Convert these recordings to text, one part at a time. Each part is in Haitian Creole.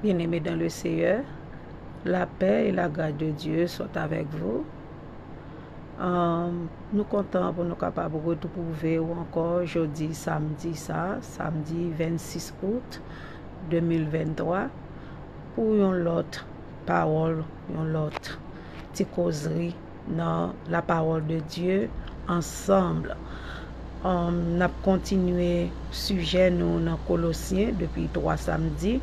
Bien aimé dans le Seigneur, la paix et la grâce de Dieu sont avec vous. Um, nou kontan pou nou kapab retwouve ou ankò jodi samdi sa, samdi 26 out 2023, pou yon lòt pawòl, yon lòt ti kozri. nan la parole de Dieu ensemble um, nap kontinye sijè nou nan kolosyen depi 3 samedi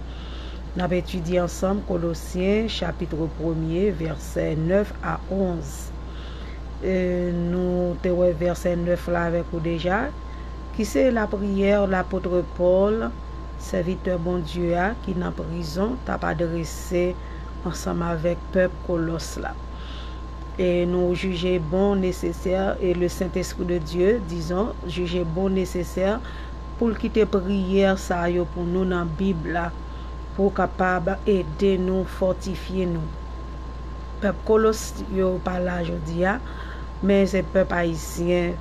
nap etidye ansanm kolosyen chapitre premye vèsè 9 a 11 e nou te wè vèsè 9 la avèk ou deja ki se lapriyè lapotre Paul sèvitè Bondye a ki nan prizon tap adrese ansanm avèk pèp kolòs la. e nou jije bon, nesesè, e le Sentespri de Dye, dizon, jije bon, nesesè, pou l kite priyè sa yo pou nou nan Bib la, pou kapab ede nou, fòtifye nou. Pèp Kolos yo pa la jodi a, men se pèp ayisyen,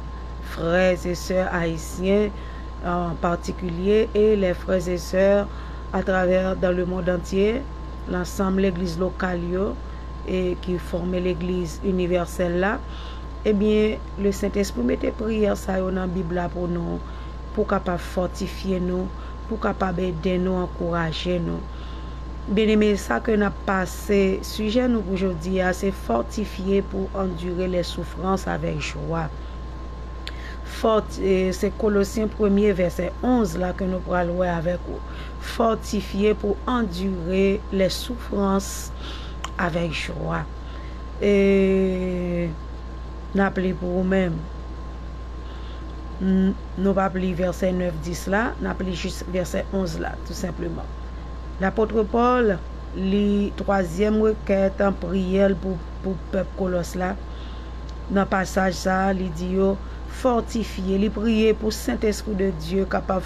frè e sè ayisyen an patikilye, e lè frè e sè atravè dan le mond antye, lansanm legliz lokal yo, e ki fòme legliz inivèsèl la, ebyen le Sentespri mete priyè sa yo nan bib la pou nou, pou kapab fòtifye nou, pou kapab ede nou ankouraje nou. Byeneme sa ke nap pase, sijè nou pou jodi a se fòtifye pou andire lè soufrans avèk jwa. Fòti se kolosyen premye vèsè 11 la ke nou pral wè avèk ou. fòtifye pou andire lè soufrans avèk jwa. E n ap li pou ou menm. Nou pap li vèsè 9, 10 la, n ap li jis vèsè 11 la, tou senpleman. Lapòtre Pòl li twazyèm rekèt priyè l pou pèp Kolòs la. Nan pasaj sa a, li di yo fòtifye, li priye pou Sentespri de Dye kapab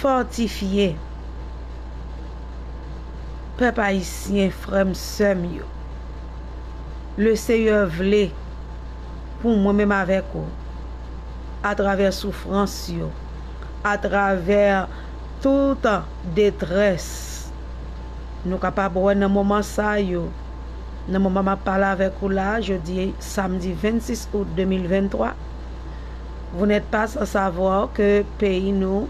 fòtifye pèp ayisyen frèm sèm yo le seyè vle pou mwen menm avèk ou atravè soufrans yo atravè tout detrès nou kapab wè nan moman sa yo nan moman map pale avèk ou la jodi samdi 26 out 2023. Vous n'êtes pas sans savoir ke peyi nou,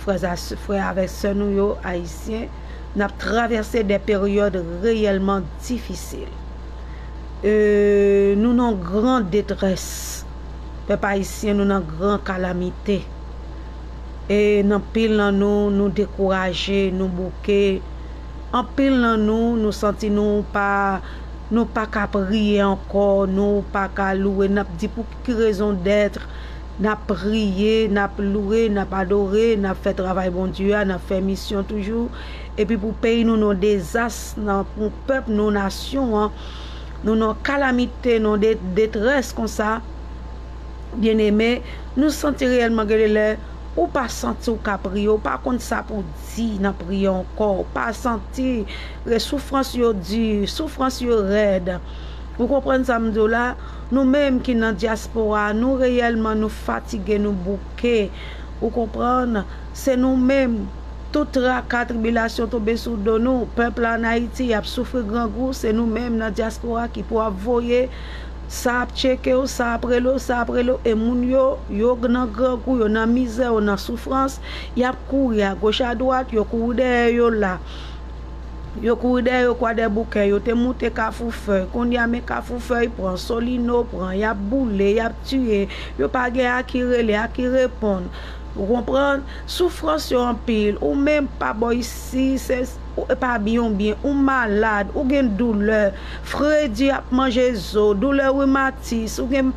frè avèk sè nou yo, Ayisyen, n ap travèse dè peryòd reyèlman difisil. E nou nan gran detrès. Pèp Ayisyen nou nan gran kalamite. E anpil nan nou, nou dekouraje, nou bouke. Anpil nan nou, nou santi nou pa ka priye ankò, nou pa ka louwe. N ap di pou. Ki rezon d'être nap priye, nap loure, nap adore, nap fè travay Bondye a, nap fè misyon toujou, epi pou peyi nou nan dezas, pou pèp nou, nasyon an, nou nan kalamite, nan detrès konsa, byeneme, nou santi reyèlman gen de lè ou pa santi ou ka priye, ou pa konn sa pou di nan priye ankò, ou pa santi, soufrans yo di, soufrans yo rèd, ou konprann sa m di w la? Nou menm ki nan diaspora a nou reyèlman nou fatige nou bouke ou konprann se nou menm tout traka tribilasyon tonbe sou do nou pèp la an ayiti yap soufri grangou se nou menm nan diaspora ki pou ap voye sa ap tchekew sa ap relew sa ap relew e moun yo yo nan grangou yo nan mizè yo nan soufrans yap kouri agoch adwat yo kouri dèyè yo la Yo kouri dèyè yo Kwadèboukè, yo te moute Kafoufèy, kounye a men Kafoufèy pran, Solino pran, y ap boule, y ap tiye, yo pa gen a ki rele, a ki reponn. Ou konprann? Soufrans yo anpil, ou menm pa bò isi, se, ou pa byen ou byen, ou malad, ou gen doulè, fredi ap manje zo, doulè rimatis, ou gen,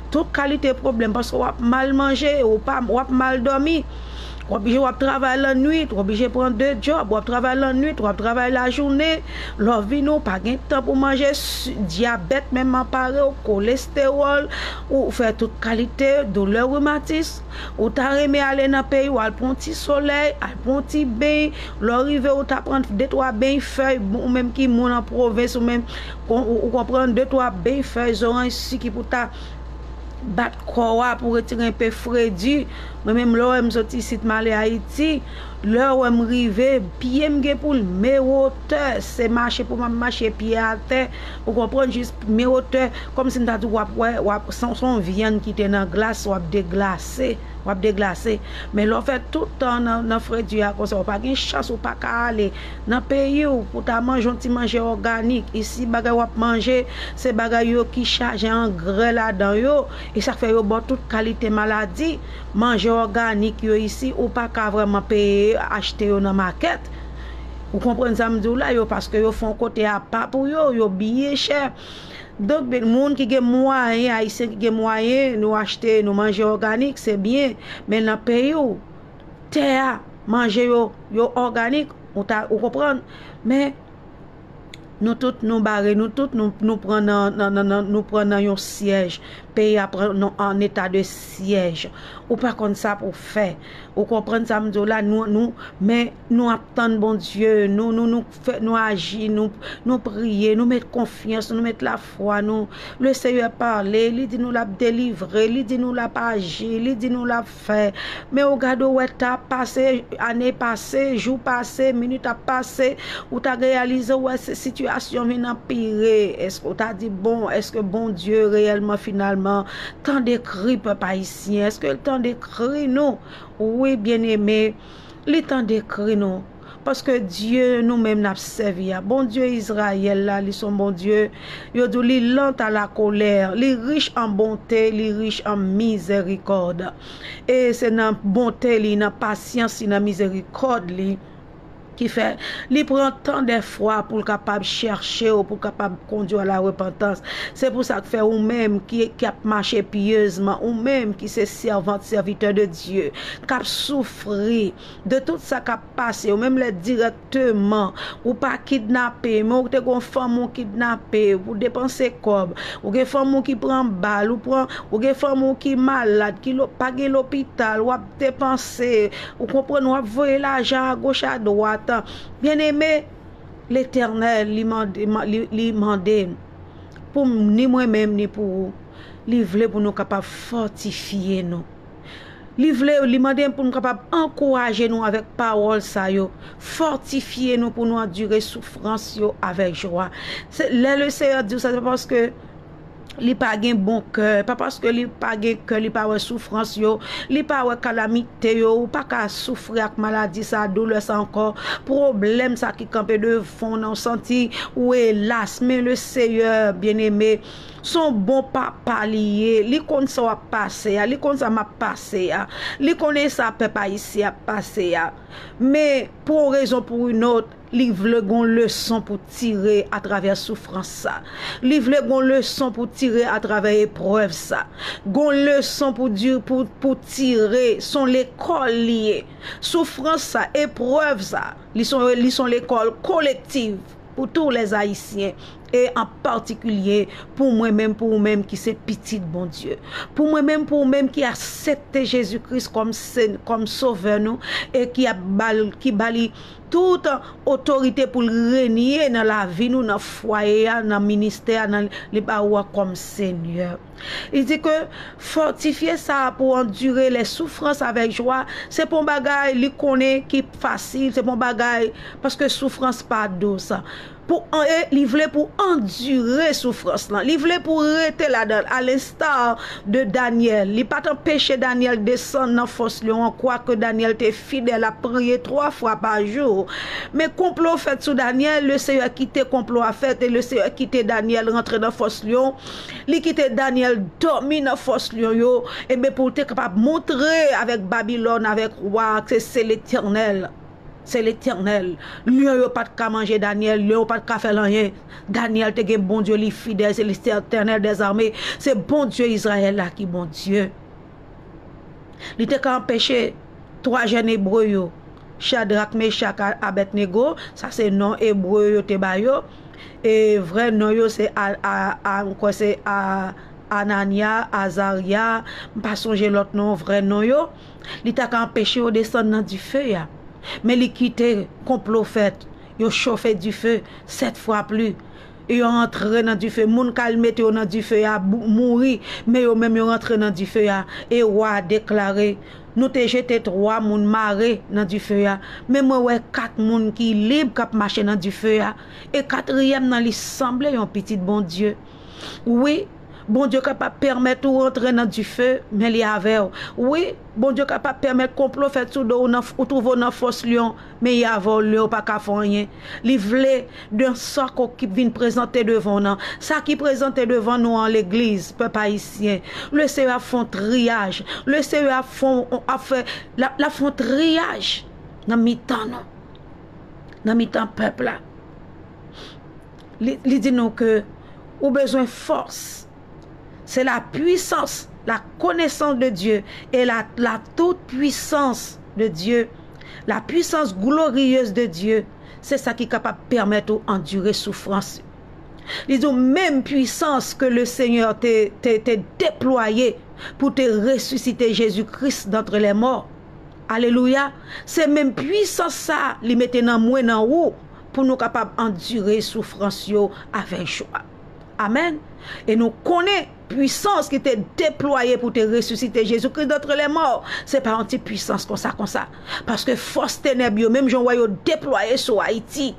tout kalite pwoblèm paske w ap mal manje, ou pa, w ap mal dòmi. W oblije w ap travay lannwit, w oblije pran de djòb, w ap travay lannwit, w ap travay lajounen, lè w vini w pa gen tan pou manje, dyabèt menm anpare w, kolestewòl, ou fè tout kalite doulè rimatis, ou ta renmen ale nan peyi w al pran yon ti solèy, al pran yon ti beny, lè w rive ou ta pran de twa beny fèy, ou menm ki moun an pwovens ou menm, ou konprann, de twa beny fèy zoranj siki pou ta bat kò a pou retire enpe fredi. Mwen menm lè w wè m soti isit m ale Ayiti, lè w wè m rive, pye m gen pou l mewotè, se mache pou m ap mache pye atè, ou konprann, jis mewotè, kòmsi m ta di w ap wè, w ap, se yon vyann ki te nan glas, w ap deglase, w ap deglase. Men lè w fè tout tan w nan fredi a konsa, ou pa gen chans, ou pa ka ale nan peyi w pou w ta manje yon ti manje òganik. Isi bagay w ap manje, se bagay yo ki chaje angrè ladan yo. E sak fè yo baw tout kalite maladi, manje òganik yo isi ou pa ka vrèman peye yo achte yo nan makèt. Ou konprann sam diw la yo paske yo fon kote apa pou yo, yo byen chè. Donk moun ki gen mwayen, ayisyen ki gen mwayen nou achte nou manje òganik se byen, men nan peyiw tè a manje yo yo òganik ou ta ou konprann men. Nou tout nou bare nou tout nou pran nan yon syèj peyi a pran nan an eta de syèj ou pa konn sa pou fè ou konprann sa m di w la nou men nou ap tann Bondye nou nou fè nou aji nou priye nou met konfyans nou met lafwa nou le seyè pale li di nou l ap delivre li di nou l ap aji li di nou l ap fè men ou gade ou wè tan ap pase ane pase jou pase minit ap pase ou ta reyalize ou wè sitiyasyon vin anpire èske ou ta di bon èske Bondye reyèlman finalman tande kri pèp ayisyen èske l tande kri nou wi byeneme li tande kri nou. Paske Dye nou menm n ap sèvi a, Bondye Izrayèl la, li se yon Bondye, yo di w li lant a lakolè, li rich an bonte, li rich an mizèrikòd. E se nan bonte li, nan pasyans li, nan mizèrikòd li ki fè li pran tan dèfwa pou l kapab chèche w, pou l kapab kondi w alarepantans. Se pou sa k fè ou menm ki ap mache pyezman, ou menm ki se sèvant, sèvitè de Dye, k ap soufri, De tout sa kap pase yo menm lè dirèkteman ou pa kidnape men ou te gon fanm ou kidnape pou depanse kòb ou gen fanm ou ki pran bal ou pran ou gen fanm ou ki malad ki lo pa gen lopital wap depanse ou konprann wap voye lajan a goch a dwat an byen eme letènèl li mande li mande pou ni mwen menm ni pou ou li vle pou nou kapab fòtifye nou. Li vle, li mande pou nou kapab ankouraje nou avèk pawòl sa yo, fòtifye nou pou nou andire soufrans yo avèk jwa. Se lè le Seyè di w sa, se pa paske li pa gen bon kè, pa paske li pa gen kè, li pa wè soufrans yo, li pa wè kalamite yo, ou pa ka soufri ak maladi sa, doulè sa ankò, pwoblèm sa ki kanpe devan w nan, ou santi ou elas, men le Seyè, byeneme, Son bon papa li ye, li konn sa wap pase a, li konn sa map pase a, li konnen sa pèp ayisyen ap pase a. Men pou yon rezon pou yon ot, li vle gon leson pou tire a travè soufrans sa. Li vle gon leson pou tire a travè eprèv sa. Gon leson pou tire, son lekòl li ye. Soufrans sa, eprèv sa, li son lekòl kolektiv pou tou lè ayisyen e an patikilye pou mwen menm, pou ou menm ki se pitit Bondye, pou mwen menm, pou ou menm ki asepte Jezi Kris kòm sovè nou e ki ba li tout otorite pou l renye nan lavi nou, nan fwaye a, nan ministè a, nan li ba ou a kòm Senyè. Li di ke fòtifye sa pou andire lè soufrans avèk jwa, se pa yon bagay li konnen ki fasil, se pa yon bagay paske soufrans pa dous. pou an e li vle pou andire soufrans lan, li vle pou rete ladan l, alensta de Dànyèl, li pa t anpeche Dànyèl desann nan fòs lyon an, kwake Dànyèl te fidèl ap priye twa fwa pa jou. Men konplo fèt sou Dànyèl, le Seyè kite konplo a fèt e le Seyè kite Dànyèl rantre nan fòs lyon, li kite Dànyèl dòmi nan fòs lyon yo, enben pou l te kapab montre avèk Babilòn, avèk wa a ke se Letènèl. Se Letènèl. Lyon yo pat ka manje Danyèl, lyon yo pat ka fè l anyen. Danyèl te gen Bondye li fidèl, se Letènèl dèzame, se Bondye Izrayèl la ki Bondye. Li te ka anpeche 3 jèn Ebre yo, Chadrak, Mechak ak Abèdnego, sa se non Ebre yo te ba yo, e vrè non yo se m kwè se Anànya, Azarya, m pa sonje lòt non vrè non yo. Li ta ka anpeche yo desann nan dife a, men li kite konplo fèt, yo chofe dife sèt fwa pli, e yo antre nan dife. Moun kal mete yo nan dife a mouri, men yo menm yo rantre nan dife a. E wa a deklare, Nou te jete twa moun mare nan dife a, men mwen wè kat moun ki lib k ap mache nan dife a, e katriyèm nan li sanble yon pitit Bondye. Wi! Bondye kapab pèmèt ou antre nan dife, men li avè w. Wi, Bondye kapab pèmèt konplo fèt sou do w nan ou twouve w nan fòs lyon, men i avè w lè ou pa ka fè anyen. Li vle, dan sa k okip vin prezante devan w nan, sa ki prezante devan nou an, legliz, pèp ayisyen, le Seyè ap fè yon triyaj, le Seyè ap fè yon, ap fè, l ap, l ap fè yon triyaj nan mitan nou, nan mitan pèp la. li di nou ke ou bezwen fòs, se la pwisans, la konesans de Dye, e la la tout pwisans de Dye, la pwisans gloriyez de Dye, se sa ki kapab pèmèt ou andire soufrans yo. Li di ou menm pwisans ke le Senyè te te te deplwaye pou te resisite Jezi Kris dantre lè mò, alelouya, se menm pwisans sa li mete nan mwen, nan ou, pou nou kapab andire soufrans yo avèk jwa. Amèn. E nou konnen pwisans ki te deplwaye pou te resisite Jezi Kris dantre lèmò, se pa yon ti pwisans konsa konsa. Paske fòs tenèb yo, menm jan ou wè yo deplwaye sou Ayiti,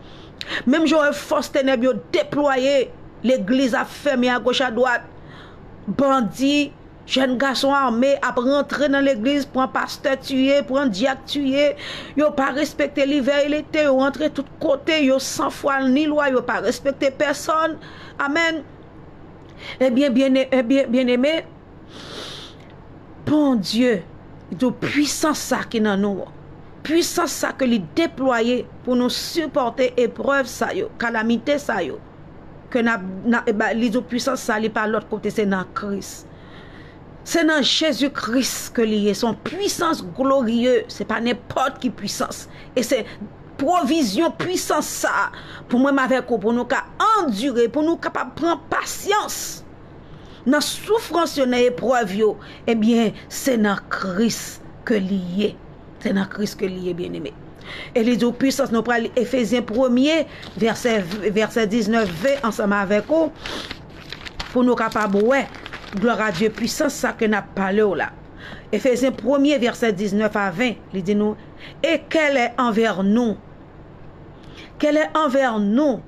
menm jan ou wè fòs tenèb yo deplwaye, legliz ap fèmen agoch adwat, bandi, Jèn gason ame ap rantre nan legliz pran pastè tiye, pran dyak tiye, yo pa respekte livè e lete, yo rantre tout kote, yo san fwa ni lwa, yo pa respekte pèsòn. Amèn. Ebyen, byeneme, Bondye di w pwisans sa ki nan nou an, pwisans sa ke li deplwaye pou nou sipòte eprèv sa yo, kalamite sa yo, ke nap nap eba li di w pwisans sa li pa lòt kote se nan kris se nan jezi kris ke li ye se yon pwisans glorye se pa nenpòt ki pwisans e se pwovizyon pwisans sa pou mwen m avèk ou pou nou ka andire pou nou kapab pran pasyans nan soufrans yo nan eprèv yo ebyen se nan kris ke li ye Se nan Kris ke li ye byeneme. E li di ou pwisans nou pral li Efezyen premye vèsè 19 ve ansanm avèk ou pou nou kapab wè glwa Dye pwisans sa ke nap pale ou la. Efezyen premye vèsè 19 a 20 li di nou e kèlè anvè nou kèlè anvè nou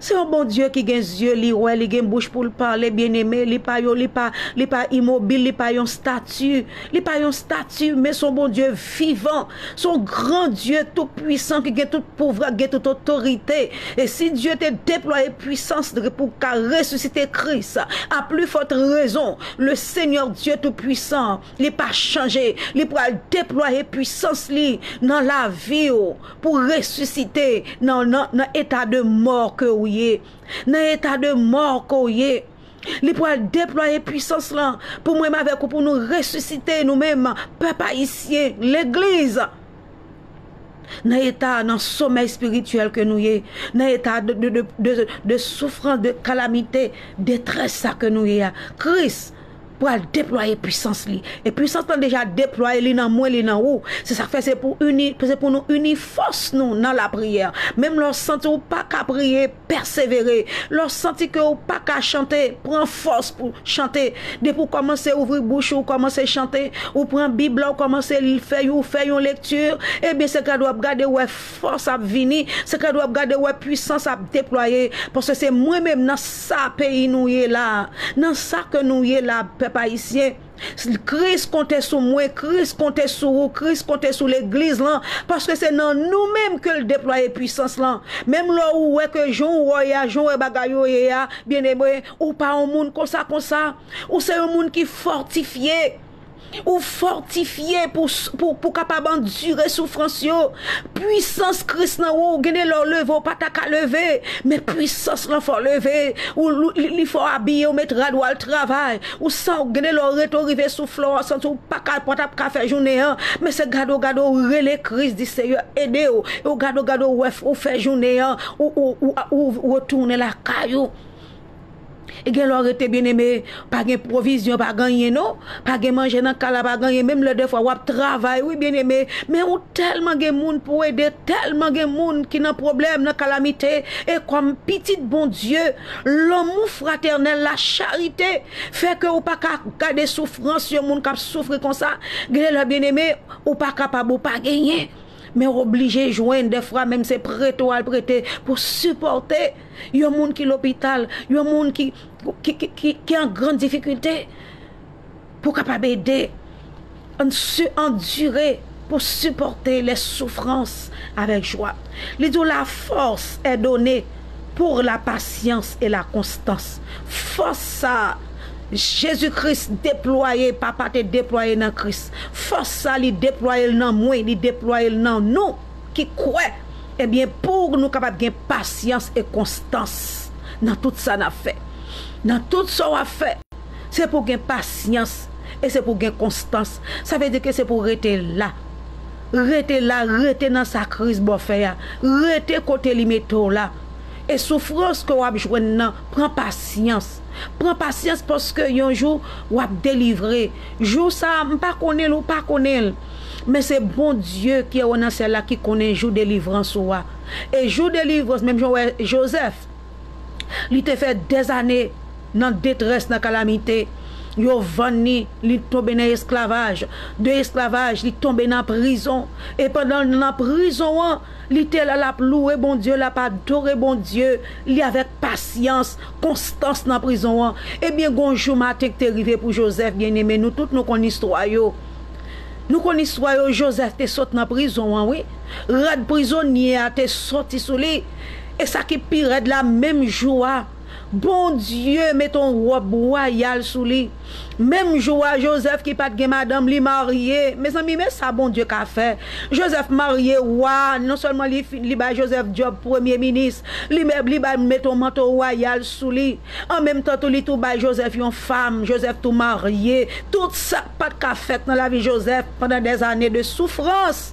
Se yon Bondye ki gen zye, li wè, li gen bouch pou l pale, byeneme, li pa yon, li pa, li pa imobil, li pa yon stati, li pa yon stati, men se yon Bondye vivan, se yon gran Dye tout pwisan ki gen tout pouvwa, ki gen tout otorite. E si Dye te deplwaye pwisans li pou ka resisite Kris, a pli fòt rezon, le Senyè Dye tout pwisan an, li pa chanje, li pral deplwaye pwisans li nan lavi ou. Pou resisite nan nan eta de mò ke ou ye. Nan eta de mò ke ou ye. Li pral deplwaye pwisans lan pou mwen m avèk ou pou nou resisite nou menm pèp ayisyen, legliz. Nan eta nan somèy espirityèl ke nou ye. Nan eta de soufrans, de kalamite, detrès sa ke nou ye a. Kris. pral deplwaye pwisans li, e pwisans lan deja deplwaye li nan mwen, li nan ou, se sak fè se pou ini, se pou nou ini fòs nou nan lapriyè, menm lè w santi w pa ka priye, pèsevere, lè w santi ke w pa ka chante, pran fòs pou chante, depi w kòmanse ouvri bouch ou, w kòmanse chante, ou pran bib la w kòmanse fè yon, fè yon lekti, ebyen se gade w ap gade wè Fòs ap vini, se kèd wap gade wè pwisans ap deplwaye paske se mwen menm nan sa peyi nou ye la, nan sa ke nou ye la pèp ayisyen, Kris konte sou mwen, Kris konte sou ou, Kris konte sou legliz lan paske se nan nou menm kel deplwaye pwisans lan, menm lè ou wè ke jan ou wè a, jan ou wè bagay yo ye a, byeneme ou pa yon moun konsa konsa, ou se yon moun ki fòtifye. Ou fòtifye pou w kapab andire soufrans yo. Puisans Kris nan ou, gen de lè w leve ou pa ta ka leve, men puisans lan fè w leve. Li fè w abiye, ou met rad ou al travay. Ou san ou gen de lè w rete ou rive sou flò a, santi ou pa ka, pa ta ka fè jounen an. Men se gade ou gade ou rele Kris, di Seyè ede w. E ou gade ou gade ou wè ou fè jounen an, ou retounen lakay ou. E gen lè w rete byeneme, pa gen pwovizyon, pa gen anyen non. Pa gen manje nan kay la, pa gen anyen. Menm lè dèfwa w ap travay wi byeneme, men ou tèlman gen moun pou w ede, tèlman gen moun ki nan pwoblèm, nan kalamite. E kòm pitit Bondye, lanmou fratènèl la, charite, fè ke ou pa ka gade soufrans yon moun k ap soufri konsa. Gen de lè byeneme, ou pa kapab, ou pa genyen, men w oblije jwenn dèfwa menm se prete w al prete pou sipòte. Yon moun ki lopital, yon moun ki ki an gran difikilte pou kapab ede an si andire pou sipòte lè soufrans avèk jwa. Li di w la fòs è done pur la pasyans e la konstans. Fòs sa a Jezi Kris deplwaye, Papa te deplwaye nan Kris. Fòs sa li deplwaye l nan mwen, li deplwaye l nan nou. ki kwè, ebyen pou nou kapab gen pasyans e konstans nan tout sa n ap fè. Nan tout sa w ap fè, se pou w gen pasyans e se pou w gen konstans. Sa vle di ke se pou w rete la, rete la, rete nan sa Kris ba w fè a, rete kote li mete w la. E soufrans ke w ap jwenn nan, pran pasyans. Pran pasyans paske yon jou w ap delivre. Jou sa a, m pa konnen l, ou pa konnen l. Men se Bondye ki wè w nan syèl la ki konnen jou delivrans ou a. E jou delivrans, menm jan w wè Jozèf, li te fè dèzane nan detrès, nan kalamite. Yo vann li, li tonbe nan esklavaj. De esklavaj, li tonbe nan prizon. E pandan l nan prizon an, li te la, l ap louwe Bondye, l ap adore Bondye li avèk pasyans, konstans nan prizon an. Ebyen, gen yon jou maten ki te rive pou Jozèf, byeneme, nou tout nou konn istwa yo. Nou konn istwa yo Joseph te sot nan prizon an wi rad prizonye a te soti sou li e sa ki pi rèd la menm jou a Bondye mete yon wòb wayal sou li menm jou a Joseph ki pat gen madanm li marye mezanmi men sa Bondye ka fè Joseph marye wa non sèlman li bay Joseph djòb premye minis li bay mete yon manto wayal sou li. An menm tan tou li tou bay Jozèf yon fam, Jozèf tou marye. Tout sa k pa t ka fèt nan lavi Jozèf pandan dèzane de soufrans.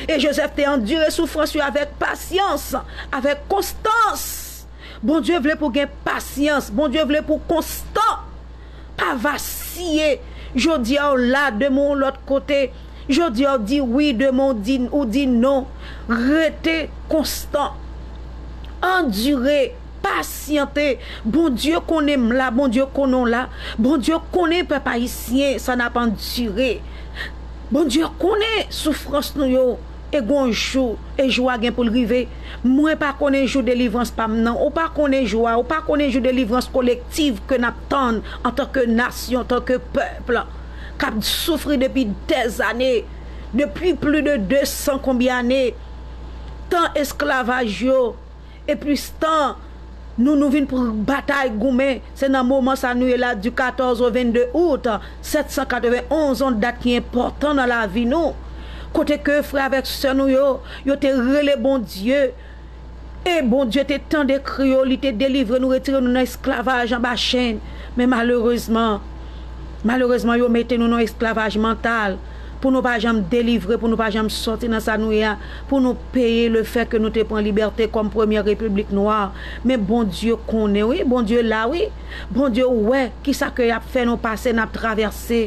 E Jozèf te andire soufrans yo avèk pasyans, avèk konstans. Bondye vle pou w gen pasyans, Bondye vle pou w konstan. Pa vasiye, jodi a w la, demen w lòt kote, jodi a w di wi, demen w di, ou di non. Rete konstan. Andire, pasyante. Bondye konnen m la, Bondye konnen w la. Bondye konnen pèp ayisyen sa n ap andire. Bondye konnen soufrans nou yo. E gon jou, e jou a gen pou l rive. Mwen pa konnen jou delivrans pa m nan. Ou pa konnen jou a. Ou pa konnen jou delivrans kolektiv ke n ap tann antanke nasyon, antanke pèp k ap soufri depi dèzane, depi pli de desan konbyen ane. Tan esklavaj yo. E plis tan Nou Nou vin pran batay goumen se nan moman sa Nou ye la du 14 au 22 août 791 on dat ki enpòtan nan lavi Nou kote ke frè avèk sè Nou yo yo te rele Bondye e Bondye te tande kri yo li te delivre Nou retire Nou nan esklavaj anba chenn men malerezman malerezman yo mete Nou nan esklavaj mantal. pou nou pa janm delivre, pou nou pa janm sòti nan sa nou ye a, pou nou peye le fè ke nou te pran libète kòm premyè repiblik nwa. Men Bondye konnen wi, Bondye la wi, Bondye wè ki sa ke y ap fè nou pase, n ap travèse.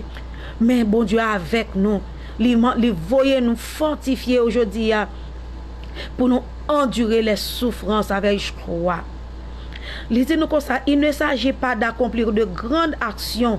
Men Bondye avèk nou, li man, li voye nou fòtifye yo jodi a pou nou andire lè soufrans avè jkwa. Li di nou konsa, il ne s'agit pas d'accomplir de grandes actions.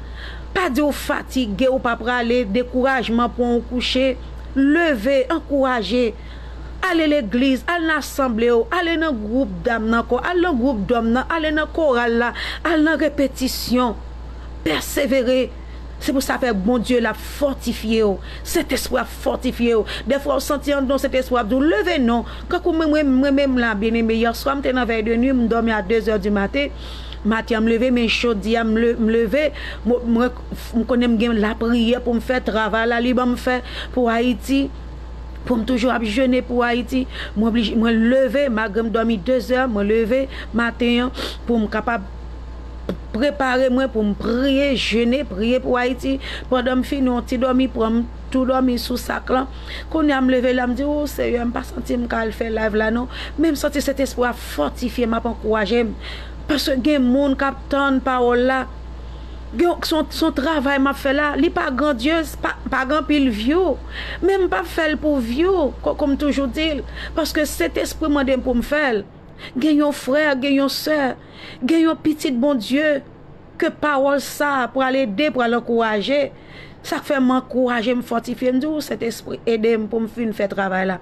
Pa di w fatige, ou pa prale, dekourajman pran w kouche. Leve, ankouraje. Ale legliz, al nan asanble yo, ale nan gwoup dam nan kò, al nan gwoup dòm nan, ale nan koral la, al nan repetisyon. Pèsevere. Se pou sa fè Bondye l ap fòtifye w. Sentespri a ap fòtifye w. Dèfwa ou santi anndan w Sentespri a ap di w, Leve non! Kankou mwen menm la, byeneme, yèswa m te nan vèy de nwi, m dòmi a dezè di maten. Maten an m leve men jodi a m leve m konnen m gen lapriyè pou m fè travay la li ban m fè pou Ayiti pou m toujou ap jene pou Ayiti mwen leve malgre m dòmi dezè mwen leve maten an pou m kapab prepare mwen pou m priye jene priye pou Ayiti pandan m fini yon ti dòmi pran m tou dòmi sou sak lan kounya m leve la m di ooh seyè m pa santi m ka al fè live la non men m santi sentespri a ap fòtifye m ap ankouraje m paske gen moun kap tann pawòl la gen son travay map fè la li pa grandyez pa gen anpil vyou men m pap fèl pou vyou koko m toujou dil paske sentespri mande m pou m fèl gen yon frè gen yon sè gen yon pitit Bondye. ke pawòl sa pral ede, pral ankouraje, sa k fè m ankouraje, m fòtifye, m di w, Sentespri, ede m pou m fin fè travay la.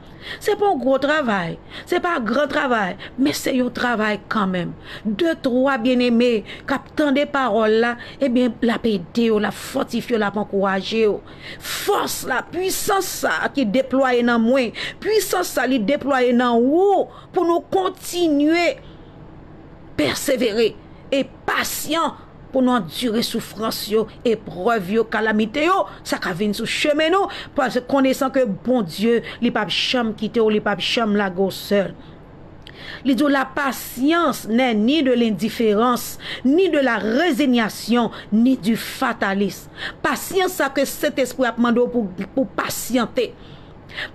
Se pa yon gwo travay, se pa gran travay, men se yon travay kanmenm. De twa byeneme k ap tande pawòl la, ebyen, l ap ede yo, l ap fòtifye yo, l ap ankouraje yo. Fòs la, pwisans sa a ki deplwaye nan mwen, pwisans sa a li deplwaye nan ou, pou nou kontinye pèsevere. pasyan pou nou andire soufrans yo, eprèv yo, kalamite yo, sa ka vin sou chemen nou, konesan ke Bondye li pap janm kite w, li pap janm lage w sèl. Li di w la pasyans nè ni de lendiferans, ni de la rezinyasyon, ni di fatalis. Pasyans sa ke Sentespri a ap mande w pou pasyante.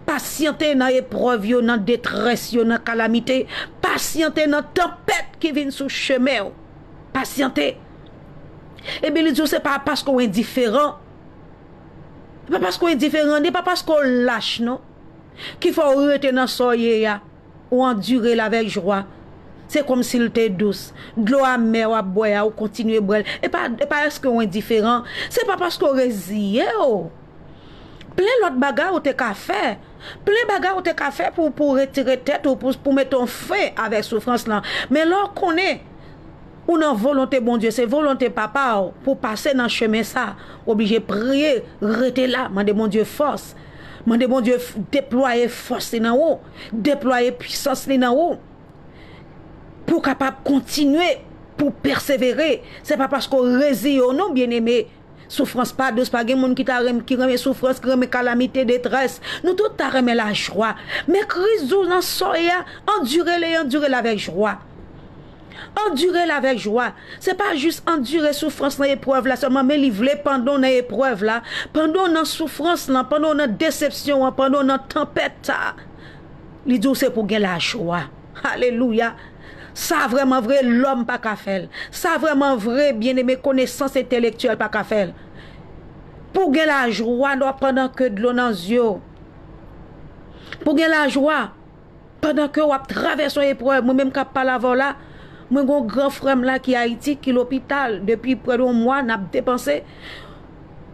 Pasyante nan eprèv yo, nan detrès yo, nan kalamite. Pasyante nan tanpèt ki vin sou chemen ou. Pasyante. Ebyen li di ou se pa paske ou endiferan. Se pa paske ou endiferan, ni pa paske ou lach non. Ki fè ou rete nan sa ou ye a. Ou andire l avèk jwa. Se kòmsi l te dous. Dlo amè w ap bwè a, ou kontinye bwè l. E pa èske w endiferan. Se pa paske w reziye w. Plen lòt bagay ou te ka fè. Plen bagay ou te ka fè pou w retire tèt ou, pou w mete yon fen avèk soufrans lan. Men lè w konnen ou nan volonte Bondye, se volonte Papa w pou w pase nan chemen sa, ou oblije priye, rete la, mande Bondye fòs. Mande Bondye deplwaye fòs li nan ou. deplwaye pwisans li nan ou pou kapab kontinye pou pèsevere se pa paske ou reziye w non byeneme soufrans pa dous pa gen moun ki ta renmen ki renmen soufrans ki renmen kalamite detrès nou tout ta renmen lajwa men kriz dous nan sòy a andire le andire l avèk jwa. Andire l avèk jwa. Se pa jis andire soufrans nan eprèv la sèlman, men li vle pandan w nan eprèv la, pandan w nan soufrans lan, pandan w nan desepsyon an, pandan w nan tanpèt sa a, li di w se pou w gen lajwa. Alelouya! Sa vrèman vre, lòm pa ka fè l. Sa vrèman vre, byeneme, konesans entelektyèl pa ka fè l. Pou w gen lajwa pandan ke dlo nan zye w. Pou w gen lajwa Pandan ke wap travèse yon eprèv, mwen menm kap pale avèw la, mwen gen yon gran frèm la ki Ayiti, ki lopital depi prè de yon mwa nap depanse,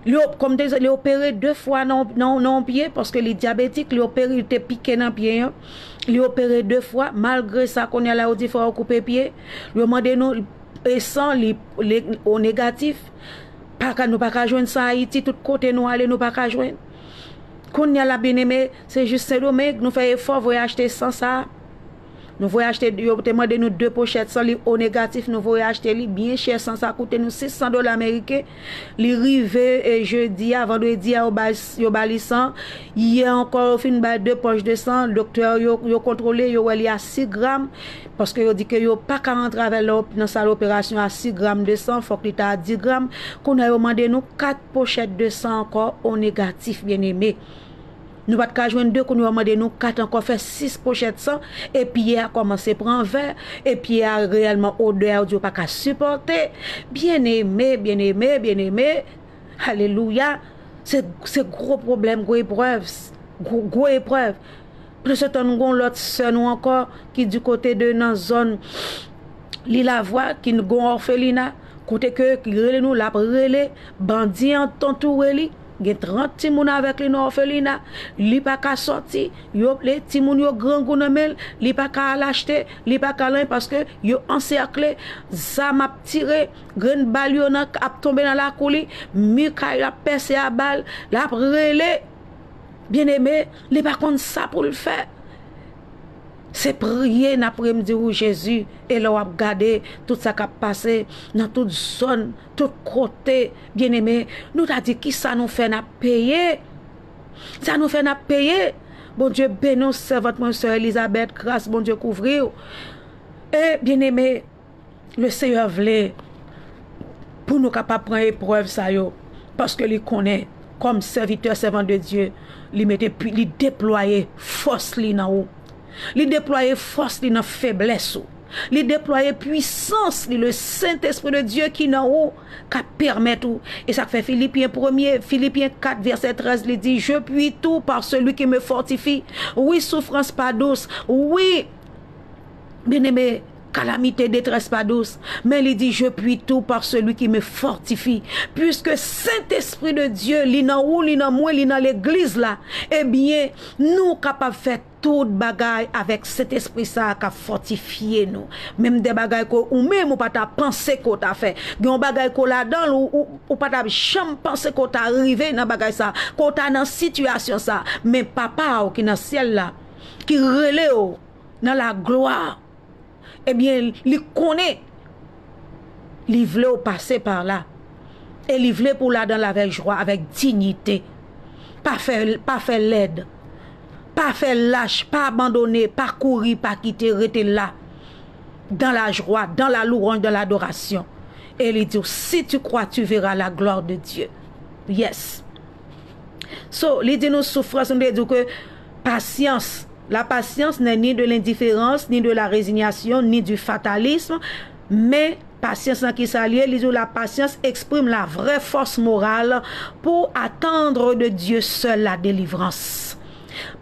li kòm m te di, li opere 2 fwa nan yon pye paske li dyabetik, li opere, yo te pike nan pye an, li opere 2 fwa, malgre sa kounya la yo di fò yo koupe pye, yo mande nou e san li o negatif, paka nou paka jwenn san Ayiti, tout kote nou ale nou paka jwenn, kounya la byeneme. Se jis sendomeng nou fè efò voye achte san sa nou voye achte yo te mande nou 2 pochèt san li o negatif nou voye achte li byen chè san sa koute nou 600 dola meriken li rive jedi a vandredi a yo ba li san yè ankò yo fin bay 2 pòch de san doktè yo yo kontwole yo wè li a 6 gram paske yo di ke yo pa ka rantre avèl nan sal operasyon a 6 gram de san fòk li ta a 10 gram kounye a yo mande nou 4 pochèt de san ankò o negatif byeneme. Nou pa t ka jwenn de, kounye yo mande nou kat ankò fè 6 pochèt san e pye a kòmanse pran vè e pye a reyèlman odè a ou di ou pa ka sipòte. Byeneme, byeneme, byeneme, alelouya, se, se gwo pwoblèm, gwo eprèv, gwo eprèv. Pandan se tan nou gen yon lòt sè nou ankò ki di kote de nan zòn Lilavwa ki gen yon òfelina kote ke li rele nou l ap rele bandi antoure li. Gen 30 timoun avèk li nan òfelina, li pa ka sòti, yo le timoun yo grangou nan men l, li pa ka al achte, li pa ka al anyen paske yo ansèkle, zam ap tire, grenn bal yo nan ap tonbe nan lakou li, mi kay la ap pèse a bal, l ap rele Byeneme, li pa konn sa pou l fè. Se priye n ap priye m di ou Jezi e lè w ap gade tout sa k ap pase nan tout zòn. Tout kote, byeneme, nou ta di ki sa nou fè nap peye? Sa nou fè nap peye? Bondye beni w sèvant mwen sè Elizabèt gras Bondye kouvri w e byeneme le Seyè vle pou nou kapab pran eprèv sa yo paske li konnen kòm sèvitè sèvant de Dye li mete li deplwaye fòs li nan ou. Li deplwaye fòs li nan feblès ou. Li deplwaye pwisans li le sentespri de Dye ki nan ou ka pèmèt ou e sak fè filipyen premye filipyen 4 vèsè 13 li di je pwi tou pa seli ki me fòtifi wi soufrans pa dous wi byeneme kalamite detrès pa dous men li di je pwi tou pa seli ki me fòtifi pwiske sentespri de Dye li nan ou li nan mwen li nan legliz la ebyen nou kapab fè Tout bagay avèk Sentespri sa a k'ap fòtifye nou. Menm de bagay ke ou menm ou pa ta panse ke w ta fè. Gen yon bagay ke w ladan l, ou pa ta janm panse ke w ta rive nan bagay sa, ke w ta nan sitiyasyon sa. Men Papa w ki nan Syèl la, ki rele w nan laglwa, ebyen li konnen li vle ou pase par la e li vle pou ladanl avèk jwa avèk dignite pa fè pa fè lèd pa fè lach pa abandone pa kouri pa kite rete la dan la jwa dan la louranj dan la adorasyon e li diw si tu kwa tu vera la glwa de Dye yes so li di nou soufrans nou te diw ke Pasyans. La patience n'est ni de l'indifférence, ni de la résignation, ni du fatalisme, men, pasyans lan ki sa l ye? Li di w la patience exprime la vraie force morale pour attendre de Dieu seul la délivrance.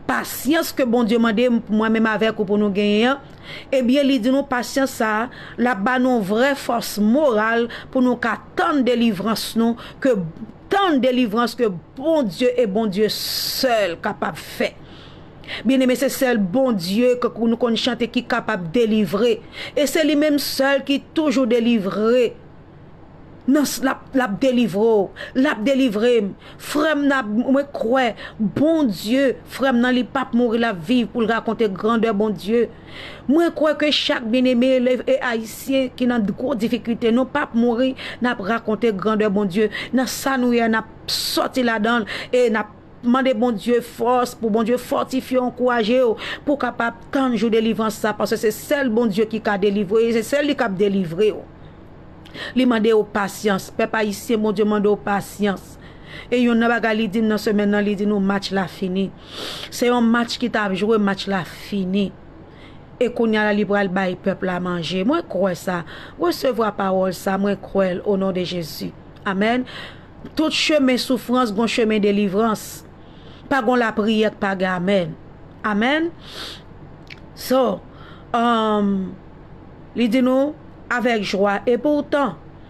Pasyans ke Bondye mande mwen menm avèk ou pou nou genyen an, ebyen li di nou pasyans sa a, l ap ba nou vrè fòs moral pou nou ka tann delivrans nou ke Tann delivrans ke Bondye e Bondye sèl kapab fè. Byeneme se sèl Bondye ke nou konn chante ki kapab delivre e se li menm sèl ki toujou delivre nan lap delivre w lap delivre m frèm nan mwen kwè Bondye frèm nan li pap mouri lap viv pou l rakonte grandè Bondye. Mwen kwè ke chak byeneme elèv e Ayisyen ki nan gwo difikilte nou pap mouri n ap rakonte grandè Bondye nan sa nou ye a n ap sòti ladan l e n ap mande Bondye fòs pou Bondye fòtifye w ankouraje w pou w kapab tann jou delivrans sa paske se sèl Bondye ki ka delivre e se sèl li k ap delivre w li mande w pasyans pèp Ayisyen Bondye mande w pasyans e yonn nan bagay li di m nan semèn nan li di nou match la fini. Se yon match ki tap jwe, match la fini. E kounya la li pral bay pèp la manje. Mwen kwè sa. Resevwa pawòl sa, mwen kwè l o non de Jezi. Amèn. Tout chemen soufrans gon chemen delivrans. Pa gon lapriyè k pa gen amèn. Amèn. So, li di nou, avèk jwa, epoutan.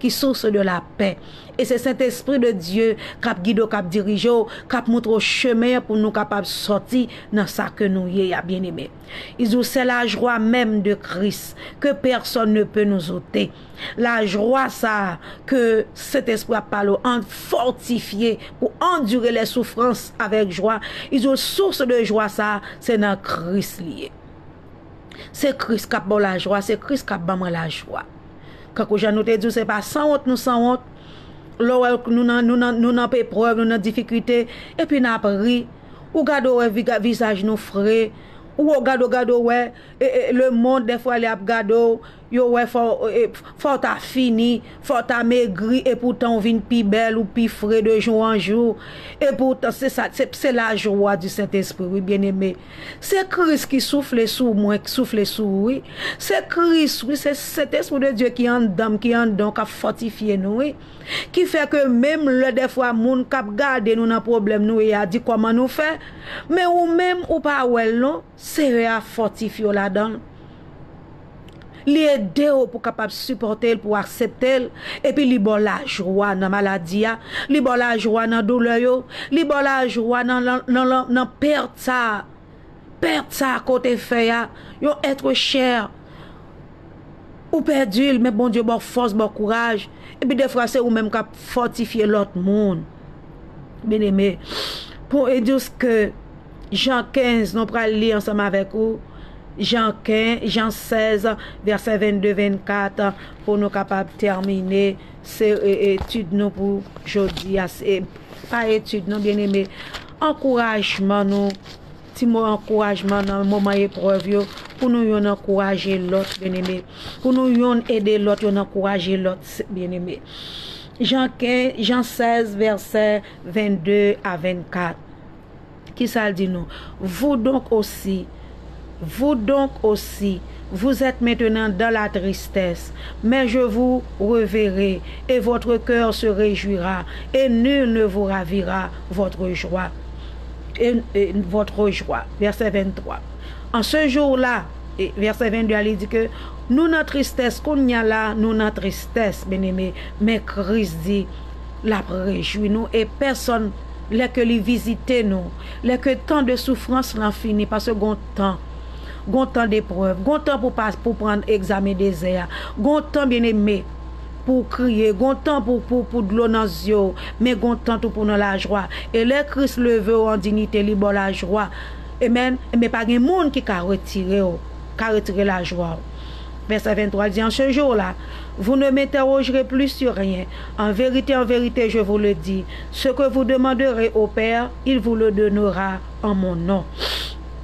ki source de la pè e se sentespri de Dye kap gide w kap dirije w kap moutre w chemen an pou nou kapab sòti nan sa ke nou ye a byen eme i di w sè la jwa menm de Kris ke pèsòn ne pe nous ote la jwa sa ke sentespri ap pale w an fòtifye pou andire lè soufrans avèk jwa i di w source de jwa sa se nan Kris li ye. Se Kris k ap ba w lajwa, se Kris k ap ban mwen lajwa. Kankou jan nou te di w, se pa sanwont nou sanwont, lè w wè nou nan eprèv, nou nan difikilte, epi n ap ri, ou gade w wè vizaj nou fre, ou gade w wè lemonn dèfwa li ap gade w. Yo wè fò fò w ta fini, fò w ta megri epoutan w vin pi bèl ou pi fre de jou an jou epoutan se sa se lajwa di Sentespri wi byeneme se Kris ki soufle sou mwen k soufle sou ou wi se Kris wi se Sentespri de Dye ki anndan m ki anndan w k ap fòtifye nou wi ki fè ke menm lè dèfwa moun k ap gade nou nan pwoblèm nou ye a di kòman nou fè men ou menm ou pa wè l non. Seyè a fòtifye w ladan l. Li ede w pou w kapab sipòte l, pou w aksepte l, epi li ba w lajwa nan maladi a, li ba w lajwa nan doulè yo, li ba w lajwa nan pèt sa a, pèt sa a ke w te fè a, yon être cher. Ou pèdi l men Bondye ba w fòs, ba w kouraj, epi defwa se ou menm k ap fòtifye lòt moun. Byeneme, pou edous ke Jan 15 nou pral li ansanm avèk ou, Jan 16 vèsè 22, 24 pou nou kapab tèmine se etid nou pou jodi a, se pa etid nou byeneme, ankourajman nou. Ti mo ankourajman nan moman eprèv yo pou nou yonn ankouraje lòt byeneme, pou nou yonn ede lòt, yonn ankouraje lòt byeneme. Jan 15, Jan 16 vèsè 22 a 24 kisa l di nou, Vous donc aussi, vous donc aussi, vous êtes maintenant dans la tristesse, mais je vous reverrai, et votre cœur se réjouira, et nul ne vous ravira votre joie. votre jwa, vèsè 23. An se jou la, vèsè 22 a li di ke, nou nan tristès, kounya la nou nan tristès, byeneme, men Kris di l ap rejwi nou e pèsòn lè ke li vizite nou, lè ke tan de soufrans lan fini, paske gon tan, gon tan deprèv, gon tan pou pran egzamen dezè a, gon tan byeneme, pou w kriye, gon tan pou pou pou dlo nan zye w, men gon tan tou pou w nan lajwa. E lè Kris leve w an dinite li ba w lajwa. Amen. Enben pa gen moun ki ka retire w, ka retire lajwa w. Vèsè 23 di, En ce jour-là, vous ne m'interrogerez plus sur rien. En vérité, en vérité, je vous le dis, ce que vous demanderez au Père, il vous le donnera en mon nom.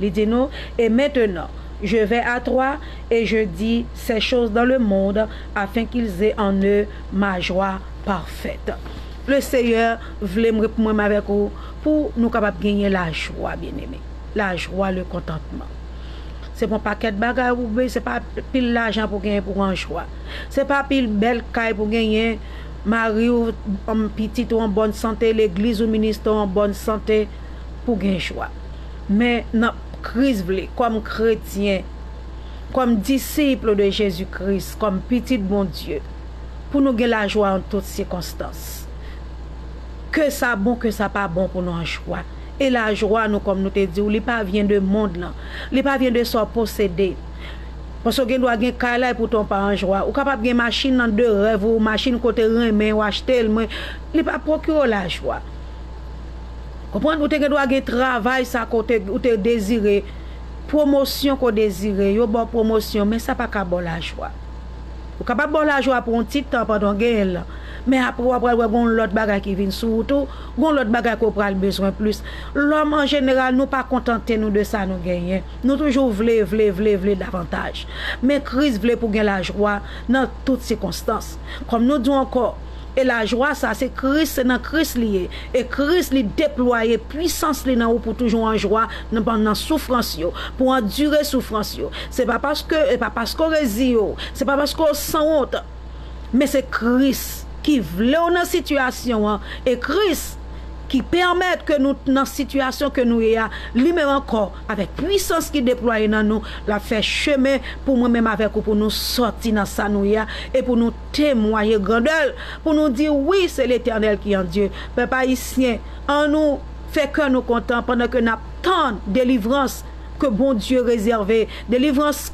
Li di nou, Et maintenant, je vais à toi, et je dis ces choses dans le monde, afin qu'ils aient en eux ma joie parfaite. Le Seyè vle mwen pou mwen avèk ou pou nou kapab genyen lajwa, byeneme, lajwa, le contentement. Se pa yon pakèt bagay pou w beni, se pa pil lajan pou w genyen pou w an jwa, se pa pil bèl kay pou w genyen, mari w, pitit ou an bòn sante, legliz ou, ministè w an bòn sante pou w gen jwa. Men nan Kris vle, kòm kretyen, kòm disip de Jezi Kris, kòm pitit Bondye, pou nou gen lajwa an tout sikonstans. Ke sa bon, ke sa pa bon pou nou an jwa. E lajwa nou, kòm nou te di w, li pa vyen de mond lan. Li pa vyen de sa w posede. Paske w gen dwa gen kay la epoutan w pa an jwa. Ou kapab gen machin lan de rèv ou, machin ke w te renmen, ou achte l men li pa pwokire w lajwa. Konprann? Ou te gen dwa gen travay sa ke w te, ou te dezire, pwomosyon ke w dezire, yo ba w pwomosyon, men sa pa ka ba w lajwa. Yo kapab ba w lajwa pou yon ti tan pandan w genyen l lan, men apre w a pral wè gen yon lòt bagay ki vin sou wout ou, gen yon lòt bagay ke w pral bezwen plis. Lòm an jeneral nou pa kontante nou de sa nou genyen. Nou toujou vle, vle, vle, vle davantaj. Men Kris vle pou w gen lajwa nan tout sikonstans. Kòm nou di w ankò, E lajwa sa se Kris, se nan Kris li ye. E Kris li deplwaye pwisans li nan ou pou toujou an jwa nan pandan soufrans yo, pou andire soufrans yo. Se pa paske, e pa paske w reziye w, se pa paske w sanwont, men se Kris ki vle w nan sitiyasyon an, e Kris ki pèmèt ke nou t nan sitiyasyon ke nou ye a, li menm ankò avèk pwisans ki deplwaye nan nou, l ap fè chemen pou mwen menm avèk ou pou nou sòti nan sa nou ye a, e pou nou. temwaye grandè l pou nou di wi se letènèl ki an Dye pèp ayisyen an nou fè kè nou kontan pandan ke nap tann delivrans ke Bondye rezève delivrans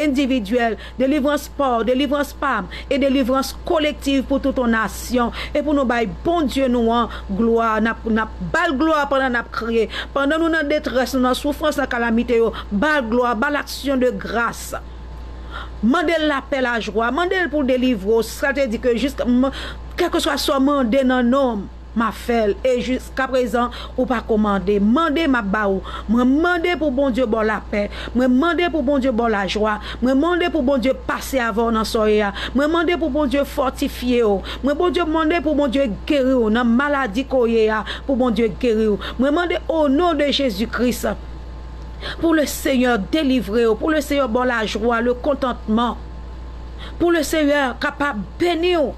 endividyèl delivrans paw delivrans pam e delivrans kolektiv pou tout on nasyon e pou nou bay Bondye nou an glwa nap bal glwa pandan nap kriye pandan nou nan detrès nou nan soufrans nan kalamite yo bal glwa bal aksyon de gras. Mande l lapè, lajwa. Mande l pou l delivre w. Sa te di ke jiska m, kèlkeswa sa w mande nan non m, m ap fè l. E jiskaprezan, ou pa ko mande. Mande, m ap ba ou. Mwen mande pou Bondye ba w lapè. Mwen mande pou Bondye ba w lajwa. Mwen mande pou Bondye pase avè w nan sa w ye a. Mwen mande pou Bondye fòtifye w. Mwen Bondye mande pou Bondye geri w nan maladi ke w ye a, pou Bondye geri w. Mwen mande o non de Jezi Kris. Pou le senyè delivrew, pou le senyè baw la jwa, le kontantman, pou le senyè kapab beniw,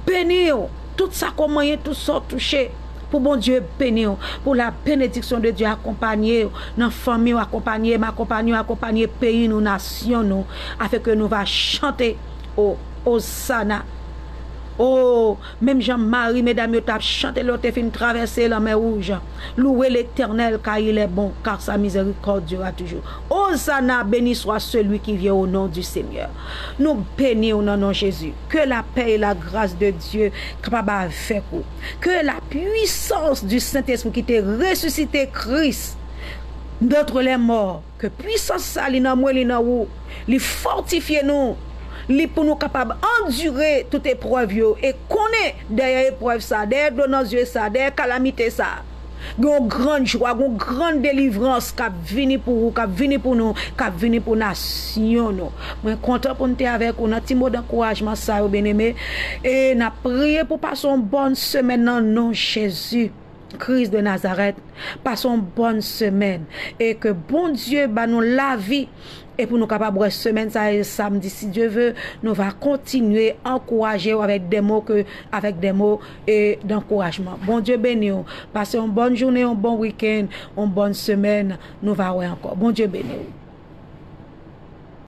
beniw, tout sa ke w manyen, tout sa w touche, pou Bondye beniw, pou la benediksyon de Dye akonpanye w, nan fanmiw, akonpanye m, akonpanye w, akonpanye peyi nou, nasyon nou, afin ke nou va chante, oh, Hosanna, oh, Menm jan mari medam yo tap chante lè yo te fin travèse lanmè wouj, Louwe Letènèl kar il est bon, car sa miséricorde durera toujours. Hosanna, beni swa selui ki vyen o non du Senyè. Nou beni w nan non Jezi. Ke lapè e lagras de Dye kapab avèk ou. Ke lapuisans du Sentespri ki te resisite Kris d'antre lèmò. Ke pwisans sa li nan mwen, li nan ou, li fòtifye nou, li pou nou kapab andire tout eprèv yo e konnen dèyè eprèv sa, dèyè dlo nan zye sa, dèyè kalamite sa, gen yon gran jwa, gen yon gran delivrans k ap vini pou ou, k ap vini pou nou, k ap vini pou nasyon nou. Mwen kontan pou m te avèk ou nan ti mo dankourajman sa yo byeneme e n ap priye pou w pase yon bòn semèn nan non Jezi. Christ de Nazareth pase yon bòn semèn e ke Bondye ba nou lavi e pou nou kapab wè semèn sa e samdi si Dye ve nou va kontinye ankouraje ou avèk de mo ke avèk de mo e dankourajman Bondye beni ou pase yon bòn jounen yon bon weekend yon bòn semèn nou va wè ankò Bondye beni ou.